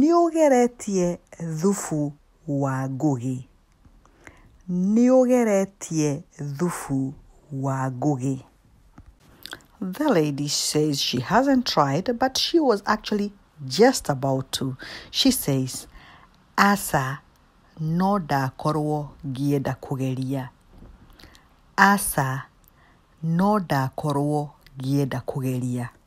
Nĩũgeretie thubu wa ngũgĩ. Nĩũgeretie thubu wa ngũgĩ. The lady says she hasn't tried, but she was actually just about to. She says, Aca, no ndakorwo ngĩenda kũgeria. Aca, no ndakorwo ngĩenda kũgeria.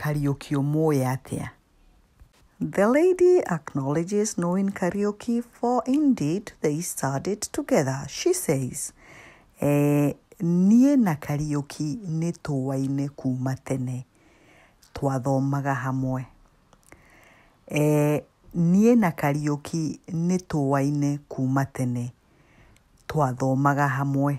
Kariuki ũmũũĩ atĩa? The lady acknowledges knowing Kariuki for indeed they studied together. She says, eh, niĩ na Kariuki nĩ tũwaine kuma tene. Twathomaga hamwe. Eh, niĩ na Kariuki nĩ tũwaine kuma tene. Twathomaga hamwe.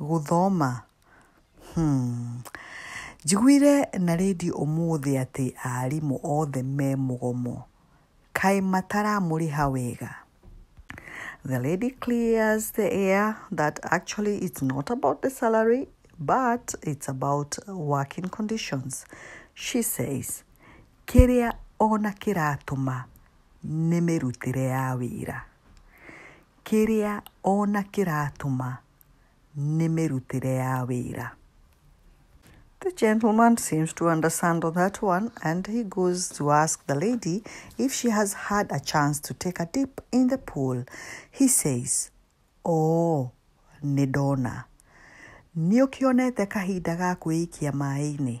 gũthoma? Hmm. Njiguire na redio ũmũthĩ atĩ arimũ othe me mũgomo. Kaĩ mataramũrĩha wega? The lady clears the air that actually it's not about the salary, but it's about working conditions. She says, kĩrĩa ona kĩratũma nĩ mĩrutĩre ya wĩra. Kĩrĩa o na kĩratũma nĩ mĩrutĩre ya wĩra. The gentleman seems to understand on that one and he goes to ask the lady if she has had a chance to take a dip in the pool. He says, Oh, nĩ ndona. Nĩ ũkĩonete kahinda ga kwĩikia maĩ-inĩ?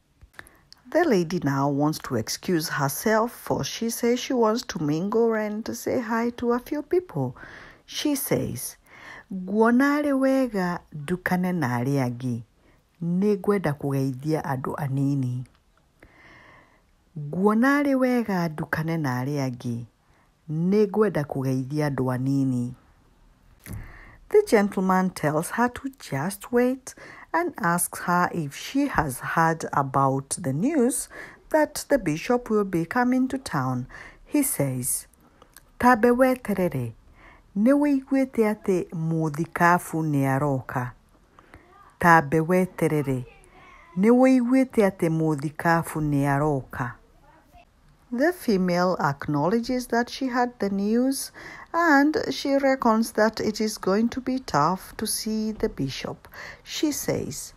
The lady now wants to excuse herself for she says she wants to mingle and to say hi to a few people. She says, Nguona arĩ wega ndukane na arĩa angĩ. Nĩ ngwenda kũgeithia andũ anini. Nguona arĩ wega ndukane na arĩa angĩ. Nĩ ngwenda kũgeithia andũ anini. The gentleman tells her to just wait and asks her if she has heard about the news that the bishop will be coming to town. He says, Tambe weterere, nĩ wĩiguĩte atĩ mũthikabu nĩ aroka. Tambe weterere, nĩ wĩiguĩte atĩ mũthikabu nĩ aroka. The female acknowledges that she had the news and she reckons that it is going to be tough to see the bishop. She says,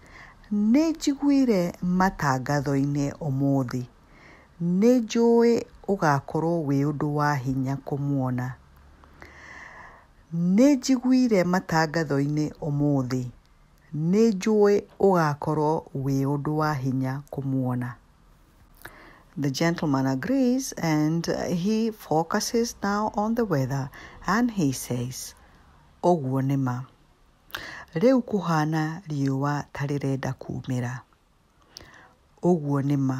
Nĩ njiguire matangatho-inĩ ũmũthĩ. Nĩ njũĩ ũgakorwo wĩ ũndũ wa hinya kũmuona. Nĩ njiguire matangatho-inĩ ũmũthĩ. Nĩ njũĩ ũgakorwo wĩ ũndũ wa hinya kũmuona. The gentleman agrees and uh, he focuses now on the weather and he says, Ũguo nĩ ma. Rĩu kũhana riũa ta rĩrenda kuumĩra. Ũguo nĩ ma.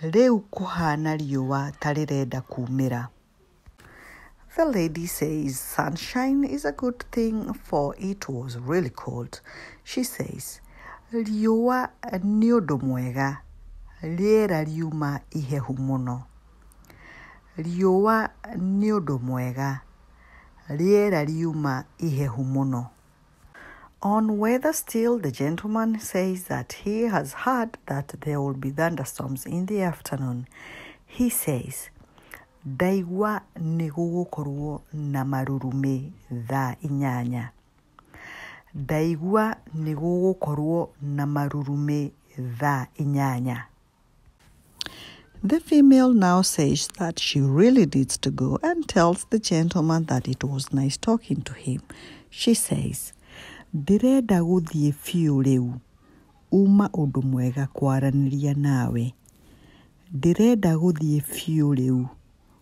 Rĩu kũhana riũa ta rĩrenda kuumĩra. The lady says sunshine is a good thing for it was really cold. She says, riũa nĩ ũndũ mwega rĩera riuma ihehu mũno. Riũa nĩ ũndũ mwega rĩera riuma ihehu mũno. On weather still, the gentleman says that he has heard that there will be thunderstorms in the afternoon. He says, ndaigua nĩ gũgũkorwo na marurumĩ thaa inyanya ndaigua nĩ gũgũkorwo na marurumĩ thaa inyanya The female now says that she really needs to go and tells the gentleman that it was nice talking to him. She says, Ndirenda gũthiĩ biũ rĩu. Uma ũndũ mwega kwaranĩria nawe. Ndirenda gũthiĩ biũ rĩu.